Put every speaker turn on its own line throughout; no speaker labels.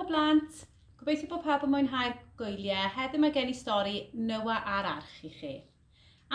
Helo blant! Gobeithio bod pawb yn mwynhau'r gwyliau. Heddiw mae gen i stori Noa a'r Arch i chi.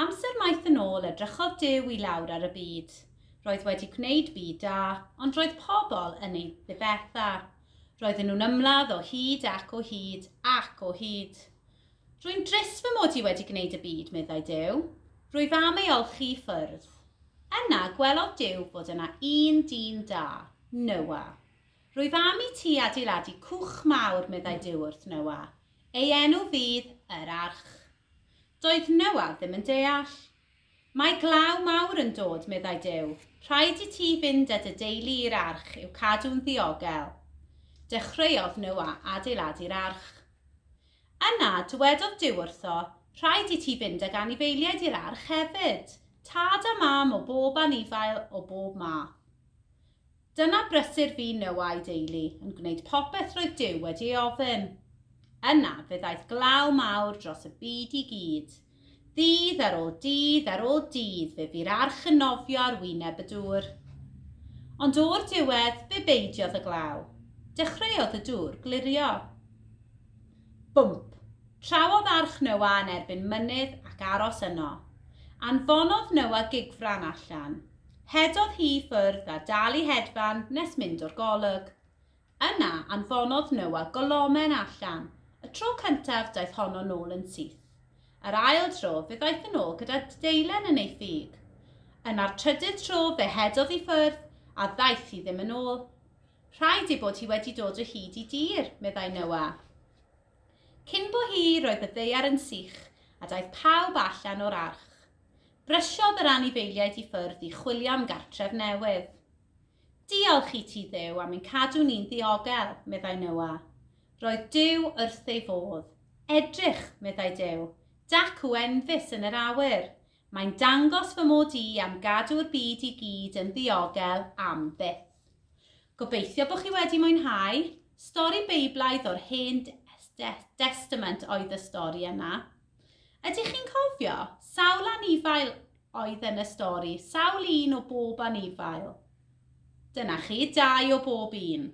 Amser maith yn ôl, edrychodd Duw i lawr ar y byd. Roedd wedi gwneud byd da, ond roedd pobl yn ei ddifetha. Roedden nhw'n ymladd o hyd ac o hyd ac o hyd. Rwy'n drist fy mod i wedi gwneud y byd, meddai Duw. Rwyf am ei olchi i ffwrdd. Yna, gwelodd Duw bod yna un dyn da, Noa. Rwyf am i ti adeiladu cwch mawr, meddai Duw wrth Noa. Ei enw fydd yr arch. Doedd Noa ddim yn deall. Mae glaw mawr yn dod, meddai Duw. Rhaid i ti fynd â dy deulu i'r arch i'w cadw'n ddiogel. Dechreuodd Noa adeiladu'r arch. Yna, dywedodd Duw wrtho, Rhaid i ti fynd ag anifeiliaid i'r arch hefyd, tad a mam o bob anifail o bob math. Dyna brysur fu Noa a'i deulu, yn gwneud popeth roedd Duw wedi ei ofyn. Yna fe ddaeth glaw mawr dros y byd i gyd. Ddydd ar ôl dydd ar ôl dydd fe fu'r arch yn nofio ar wyneb y dŵr. Ond o'r diwedd, fe beidiodd y glaw. Dechreuodd y dŵr glirio. Bwmp! Trawodd arch Noa yn erbyn mynydd ac aros yno. Anfonodd Noa gigfran allan. Rhedodd hi i ffwrdd a dal i hedfan nes mynd o'r golwg. Yna, anfonodd Noa golomen allan. Y tro cyntaf, daeth honno nôl yn syth. Yr ail dro, fe ddaeth yn ôl gyda deilen yn ei thig. Yna'r trydydd tro, fe rhedodd i ffwrdd, a ddaeth hi ddim yn ôl. Rhaid ei bod hi wedi dod o hyd i dir, meddai Noa. Cyn bo hi, roedd y ddaear yn sych, a daeth pawb allan o'r arch. Brysiodd yr anifeiliaid i ffwrdd i chwilio am gartref newydd. Diolch i ti Dduw am ein cadw ni'n ddiogel, meddai Noah. Roedd Duw wrth ei fodd. Edrych, meddai Duw, dacw enfys yn yr awyr. Mae'n dangos fy mod i am gadw'r byd i gyd yn ddiogel am byth. Gobeithio bod chi wedi mwynhau. Stori Beiblaidd o'r Hen Destament oedd y stori yna. Ydych chi'n cofio? Sawl anifail oedd yn y stori? Sawl un o bob anifail? Dyna chi, dau o bob un.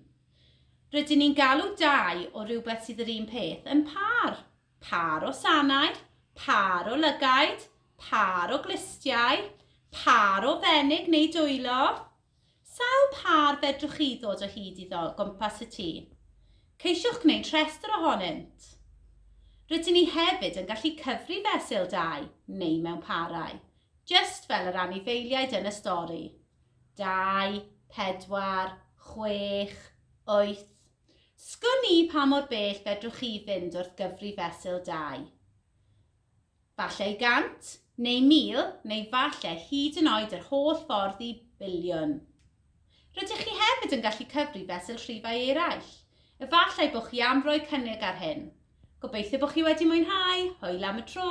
Rydyn ni'n galw dau o rhywbeth sydd yr un peth yn pâr. Pâr o sanair, pâr o lygaid, pâr o glustiau, pâr o fenig neu dwylo. Sawl pâr fedrwch chi ddod o hyd iddo gwmpas y tŷ? Ceisiwch gwneud rhestr ohonynt. Rydyn ni hefyd yn gallu cyfri fesul dau neu mewn parau, jyst fel yr anifeiliaid yn y stori. Dau, pedwar, chwech, wyth. Sgwn i pa mor bell fedrwch chi fynd wrth gyfri fesul dau. Falle gant, neu mil, neu falle hyd yn oed yr holl ffordd i biliwn. Rydych chi hefyd yn gallu cyfri fesul rhifau eraill. Efallai bod chi am roi cynnig ar hyn. Gobeithio bod chi wedi mwynhau, hwyl am y tro!